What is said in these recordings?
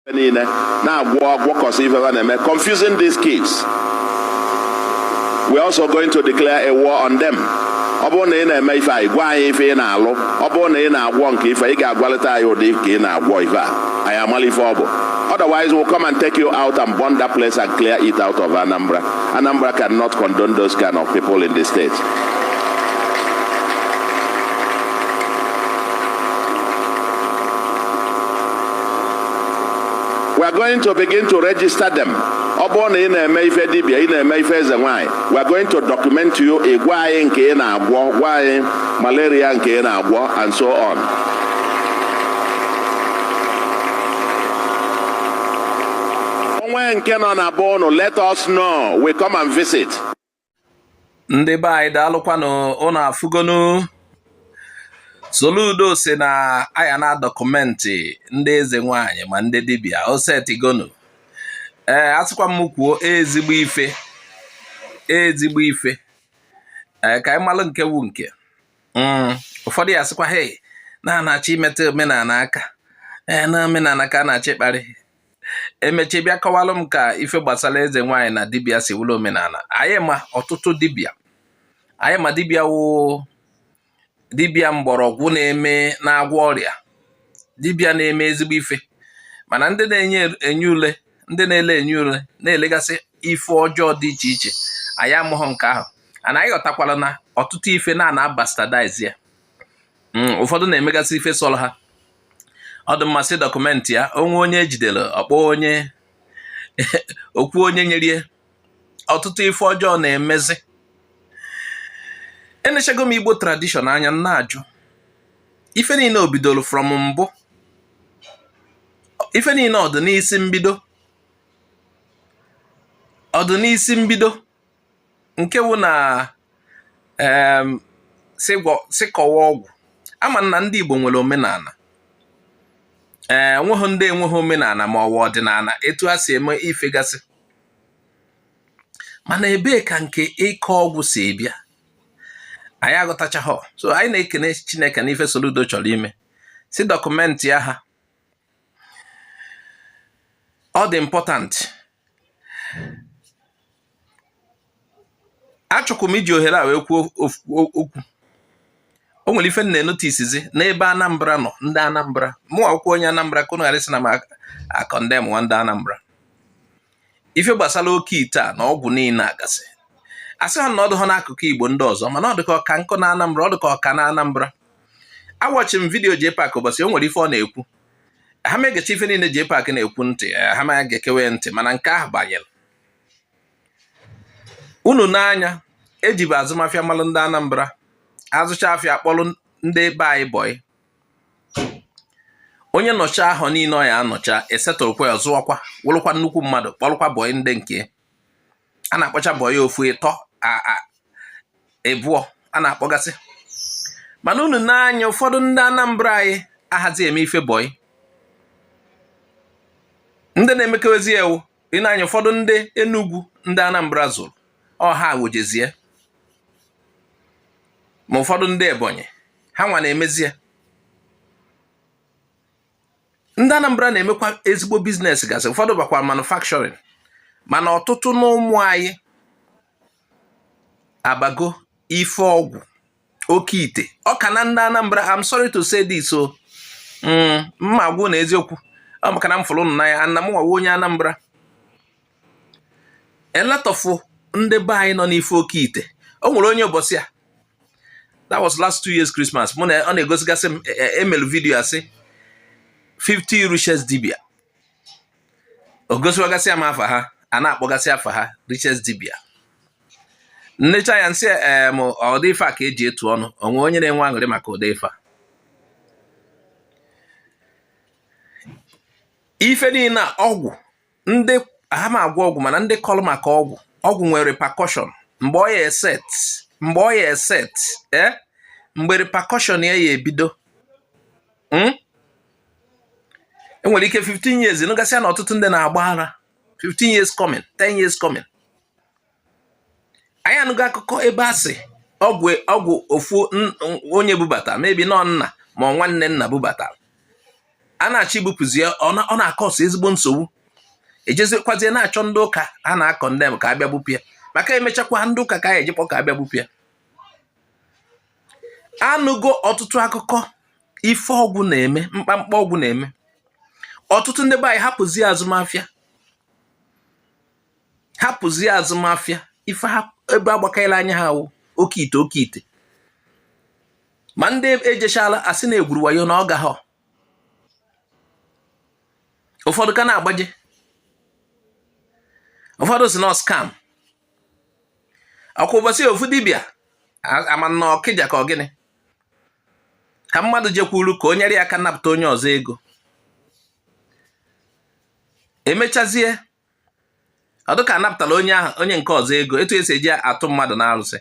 niile na-agwọ agwọkọsị ife ha na-eme confusing these kids we're also going to declare a war on them ọ bụrụ na ị na-eme ife anyị gwa anyị ife ị na-alụ ọ bụrụ na ị na-agwọ nke ife ị ga-agwalịta anyị ụdị ka ị na-agwọ ife a anyị amala ife ọ bụ otherwise we'll come and take you out and burn that place and clear it out of Anambra Anambra cannot condone those kind of people in the state we are going to begin to register them ọ bụrụ na ị na-eme ife dibia ị na-eme ife eze nwaanyị we are going to document you ị gwa anyị nke ị na-agwọ gwa anyị malaria nke ị na-agwọ and so on o nwee nke nọ na be ụnụ let us know we come and visit ndị be anyị daalụkwanụ ụnụ afụgonu Soludo sị na a ya na-adọkụmentị ndị eze nwanyị ma ndị dibịa o setigonu ee asịkwa m kwuo ezigbo ife ezigbo ife ee ka anyị malụ nke wu nke mm, ụfọdụ ya-asịkwa hei na a na-achọ imetụ omenala aka ee na omenala ka a na-achọ ịkparị e mechee bịa kọwalụ m ka ife gbasara eze nwaanyị na dibịa si wụlụ omenala anyị ma ọtụtụ dibịa anyị ma dibịa wụ dibịa mgbọrọgwụ na-eme na-agwọ ọrịa dibịa na-eme ezigbo ife mana ndị na-enye enye ule ndị na-ele enye ule na-elegasị ife ọjọọ dị iche iche anyị amaghị nke ahụ mana anyị ghọtakwala na ọtụtụ ife na a na-abastardize ya hmm, ụfọdụ na-emegasị ife sọrọ ha ọ dị mma sị dọkụmentị ya o nwee onye e jidere ọ kpọọ onye o kwuo onye nyere ya ọtụtụ ife ọjọọ na-emezi enechego m igbo tradishọn anya m na-ajụ ife niile o bidoro from mbụ ife niile ọ dị n'isi mbido ọ dị n'isi mbido nke wụ na sị kọwa ọgwụ ama m na ndị Igbo nwere omenala ee enweghị ndị enweghị omenala ma ọ wụ ọdịnala etu ha si eme ife gasị mana ebee ka nke ịkọ ọgwụ si abịa anyị aghọtachaghọ so anyị na-ekene Chineke na ife Soludo chọrọ ime sị dọkụmentịa ha ọ dị important achọkwa m iji ohere a wee kwuo okwu o nwere ife m na-enotisizi n'ebe Anambra nọ ndị Anambra mụnwa wụkwa onye Anambra ka unu ghara ịsị na m akọndemụwa ndị Anambra ife gbasara oke ite a na ọgwụ niile a gasị asịha m na ọ dụha n'akụkụ igbo ndị ọzọ mana ọ dịka ọ ka nkụ na anambra ọ dịka ọ ka na anambra awọchị m vidiyo JPAC ụbọchị o nwere ife ọ na-ekwu aha m egecha ife niile JPAC na-ekwu ntị aha m egekewe ntị mana nke ahụ banyere unu nee anya ejibu azụmafịa malụ ndị anambra azụcha afịa kpọrọ ndị be anyị bọyị onye nọcha ahọ niile ọ ya anọcha esetụrụkwa ya ọ zụọkwa wụrụkwa nnukwu mmadụ kpọrụkwa bọị ndị nke a na-akpọcha bọị ofu ịtọ ịbụọ a na-akpọgasị mana unu nee anya ụfọdụ ndị Anambra anyị ahazi eme ife bọị ndị na-emekewezi ya wụ ị nee anya ụfọdụ ndị Enugu ndị Anambra zụrụ ọ ha wejezie ma ụfọdụ ndị Ebonyi ha nwa na-emezi ya ndị Anambra na-emekwa ezigbo biznes gasị ụfọdụ bakwa manufacturing mana ọtụtụ n'ụmụ anyị abago ife ọgwụ oke ite ọ ka na ndị Anambra I'm sorry to say this o mm, mma agwa ụnụ eziokwu ọ maka na m fụrụ ụnụ n'anya na m nwa wụ onye Anambra a lot of ndị be anyị nọ n'ife oke ite o nwere onye ụbọchị a that was last two years Christmas mụ na ọ na-egosigasị m emelu e, e vidiyo asị 50 richest dibịa o gosiwagasịa m afa ha a na-akpọgasị afa ha richest dibịa m necha ya m sị em ụdị ife a ka eji etu ọnụ o nwere onye na-enwe aṅụrị maka ụdị ife a ife niile ọgwụ ndị aha m agwọ ọgwụ mana ndị kọlụ maka ọgwụ ọgwụ nwere repercussion mgbe ọ ya eset mgbe ọ ya eset ee eh, mgbe repercussion ya ya ebido hmm? e nwere ike 15 years nụgasịa na ọtụtụ ndị na-agba ara 15 years coming 10 years coming anyị anụgo akụkọ ebe a sị ọgwụ ọgwụ ofu onye bubata maybe na ọ nna ma ọ nwanne nna bubata a na-achọ ibupụzi ya ọ na-akọsụ ezigbo nsogbu ejezikwazie na-achọ ndị ụka a na-akọndem ka a bịa bupụ ya maka emechakwa ndị ụka ka a na-eje akpọ ka a bịa bupụ ya anụgo ọtụtụ akụkọ ife ọgwụ na-eme mkpamkpa ọgwụ na-eme ọtụtụ ndị be anyị hapụzie azụmafịa hapụzie azụmafịa ife ha ebe agbakanyela anya ha wụ oke ite oke ite ma ndị ejechala asị na egwuru wayo na ọ gahọ ụfọdụ ka na-agbaje ụfọdụ sị na ọ scam ọ kwa ụbọchị a ofu dibịa ama m na ọkịja ka ọ gịnị ka mmadụ jekwuru ka o nyere ya aka napụta onye ọzọ ego emechazie ọ dịka a napụtala onye ahụ onye nke ọzọ ego etu esi eji atụ mmadụ na arụsị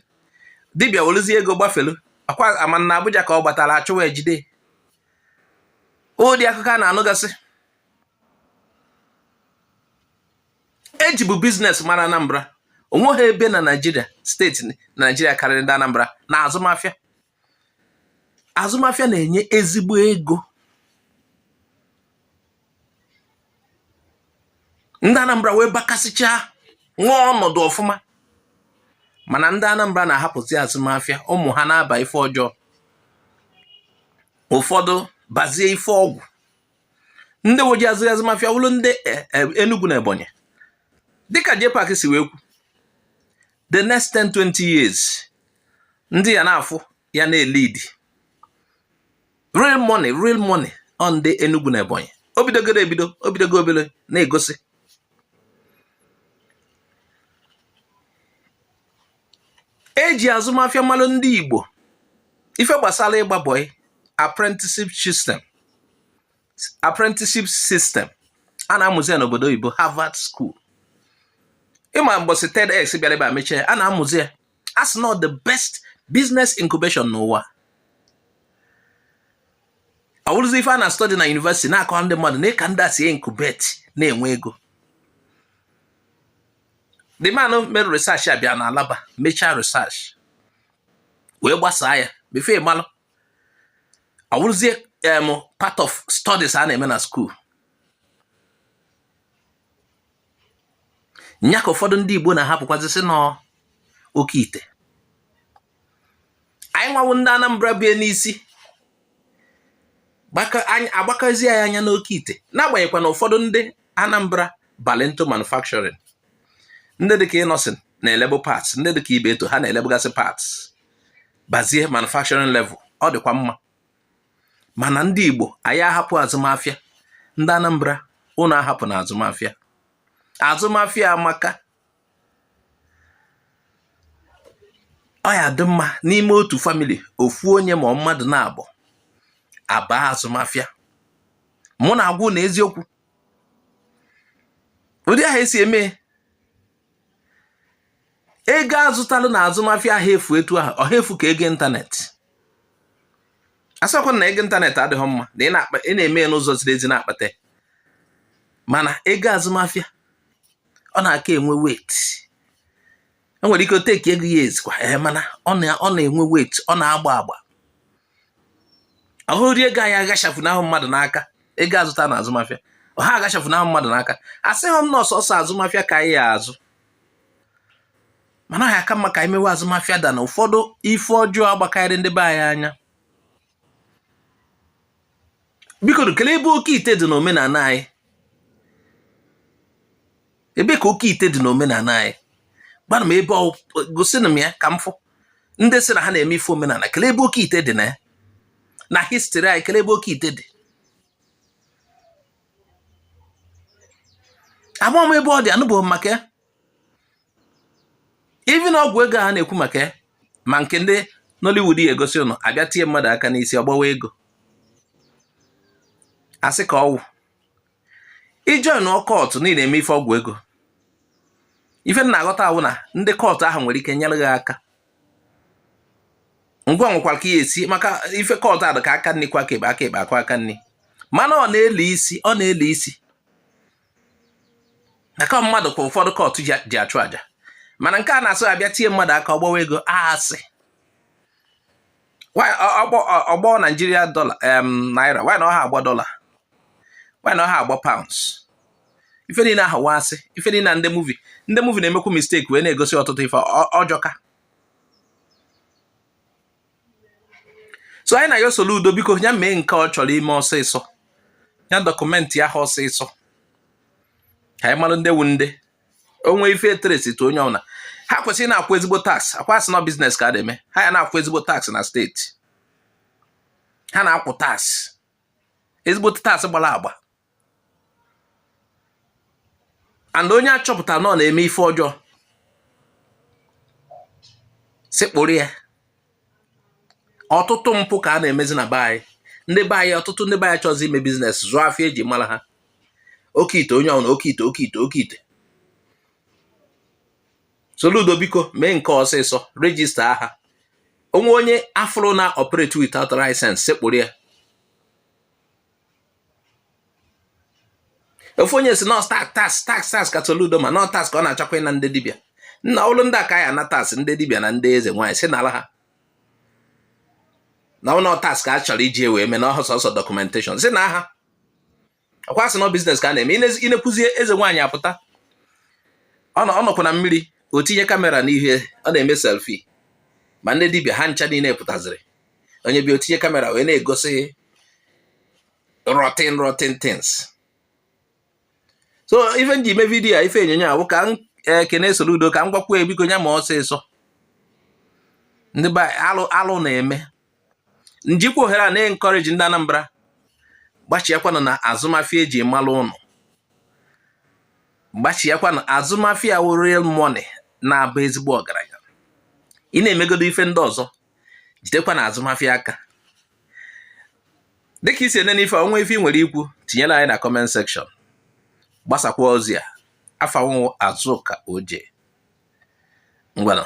dibịa weluzie ego gbafelu akwa ama na Abuja ka ọ gbatara achụwa ejide ụdị akụkọ a na-anụgasị e jibu biznes mara Anambra onweghị ebe na Naịjirịa steeti Naịjirịa karịrị ndị Anambra na azụmafịa azụmafịa na-enye ezigbo ego ndị Anambra wee bakasịchaa nwa nọdụ ọfụma mana ndị Anambra na-ahapụzi azụmafịa ụmụ ha na-aba ife ọjọọ ụfọdụ bazie ife ọgwụ ndị nwezi azụ azụmafịa wụrụ ndị e, e, Enugu na Ebonyi dịka JPAC si wee kwu the next 10 20 years ndị ya na-afụ ya na-elidi real money real money ọ ndị Enugu na Ebonyi o bidogoro ebido o bidogo ebido na-egosi e ji azụmafịa malụ ndị Igbo ife gbasara ịgba bọị apprenticeship system apprenticeship system a na-amụzi ya n'obodo oyibo Harvard School ị ma mbọsị TEDx bịara ebe a mechaa a na-amụzi ya as na ọ the best business incubation n'ụwa ọ wụrụzi ife a na study na university na-akọ ndị mmadụ nee ka ndị a si incubate na-enwe ego the man mere research a bịa na Alaba mechaa research wee gbasaa ya before ị malụ ọ wụrụzie part of studies a na-eme na school nya ka ụfọdụ ndị Igbo na-ahapụkwazi sị na ọ oke ite anyị nwa wụ ndị Anambra bie n'isi agbakazi anyị anya n'oke ite n'agbanyeghịkwa na ụfọdụ ndị Anambra balụ into manufacturing ndị dịka Innoson na-elebu parts ndị dịka Ibeto ha na-elebugasị parts bazie manufacturing level ọ dịkwa mma mana ndị Igbo anyị ahapụ azụmafịa ndị Anambra ụnụ ahapụna azụmafịa azụmafịa amaka ọ ya-adị mma n'ime otu famili ofu onye ma ọ mmadụ naabọ abaa azụmafịa mụ na-agwa ụnụ eziokwu ụdị ahụ esi eme ego a zụtalụ na azụmafịa aha efu etu ahụ ọ ha efu ka ego ịntanetị asịkwa m na ego ịntanetị adịghị mma na ị na-eme ya n'ụzọ ziri ezi na-akpata mana ego azụmafịa ọ na-aka enwe weight e nwere ike o take ego years kwa ee eh, mana ọ na-enwe weight ọ na-agba agba ọhụrụ rie ego anyị aghachafu n'ahụ mmadụ n'aka ego azụta na azụmafịa ọha aghachafu n'ahụ mmadụ n'aka asịghị m na ọ sọsọ azụmafịa ka anyị ya azụ mana ha aka mma ka anyị mewe azụmafịa than ụfọdụ ife ọjọọ agbakarị ndị be anyị anya biko kelee ebe oke ite dị n'omenala anyị ebe ka oke ite dị n'omenala anyị gwanụ m ebe ọ wụ gosinụ m ya ka m fụ ndị sị na ha na-eme ife omenala kelee ebe oke ite dị na ya na history anyị kelee ebe oke ite dị ama m ebe ọ dị anụbeghị m maka ya even ọgwụ ego a na-ekwu maka ya ma nke ndị Nollywood ya egosi ụnụ abịa tie mmadụ aka n'isi ọ gbawa ego asị ka ọ wụ ijoin cult niile eme ife ọgwụ ego ife m na-aghọta wụ na ndị cult ahụ nwere ike nyere gị aka ngwa nwekwara ka ihe esi maka ife cult adụ ka aka nri kwọọ aka ekpe aka ekpe akwọọ aka nri mana ọ na-ele isi ọ na-ele isi aka mmadụ kwa ụfọdụ cult ji achụ aja mana nke a na-asị gị abịa tie mmadụ aka ọ gbawa ego asị ọ gbọ Nigeria dọla naira why na ọha agbọ dọla why na ọha agbọ pounds ife niile ahụ wụ asị ife niile na ndị movie ndị movie na-emekwu mistake wee na-egosi ọtụtụ ife ọjọka so anyị na-ayọ Soludo biko ya mee nke ọ chọrọ ime ọsịsọ ya documentịa ha ọsịsọ ka anyị mara ndị wu ndị o nwee ife e trace to onye ọbụla ha kwesịrị na-akwụ ezigbo tax ọkwa asị na business ka a na-eme ha ya na-akwụ ezigbo tax na steeti ha na-akwụ tax ezigbo tax gbara agba and onye achọpụta na ọ na-eme ife ọjọọ sekpụrụ ya ọtụtụ mpụ ka a na-emezi na be anyị ndị be anyị ọtụtụ ndị be anyị chọzi ime business zụọ afịa eji mara ha oke ite onye ọbụla oke ite oke ite oke ite Soludo biko mee nke ọsịsọ register ha o nwee onye afụrụ na-operate without license sekpụrụ ya ofu onye sị na ọ tax tax tax tax ka Soludo ma na ọ tax ka ọ na-achọkwa ịna ndị dibịa nna ọlụ ndị aka ya na tax ndị dibịa na ndị eze nwaanyị si n'ala ha na ọ bụrọ tax ka a chọrọ iji wee mee na ọ wụ sọsọ documentation si na aha ọkwa sị na business ka a na-eme ịnekwuzie eze nwaanyị apụta ọ nọkwa na mmiri o tinye kamera n'ihu ọ na-eme selfie ma ndị dibịa ha ncha niile pụtaziri onye bịa o tinye kamera wee na-egosi rotten rotten things so ife m ji eme vidiyo a ife onyonyo a bụ ka m e, kene Soludo ka m gwakwuo e biko nya mee ọsịsọ ndị be alụ alụ na-eme m jikwa ohere a na-encourage ndị Anambra gbachiakwanụ na azụmafịa e ji malụ ụnụ gbachiakwanụ azụmafịa wụ real money na-aba ezigbo ọgaranya ị na-emegodo ife ndị ọzọ jidekwa na azụmafịa aka dịka i si ene n'ife a o nwee ife ị nwere ikwu tinyere anyị na comment section gbasakwa ozi a afa m wụ Azụka Oje ngwanụ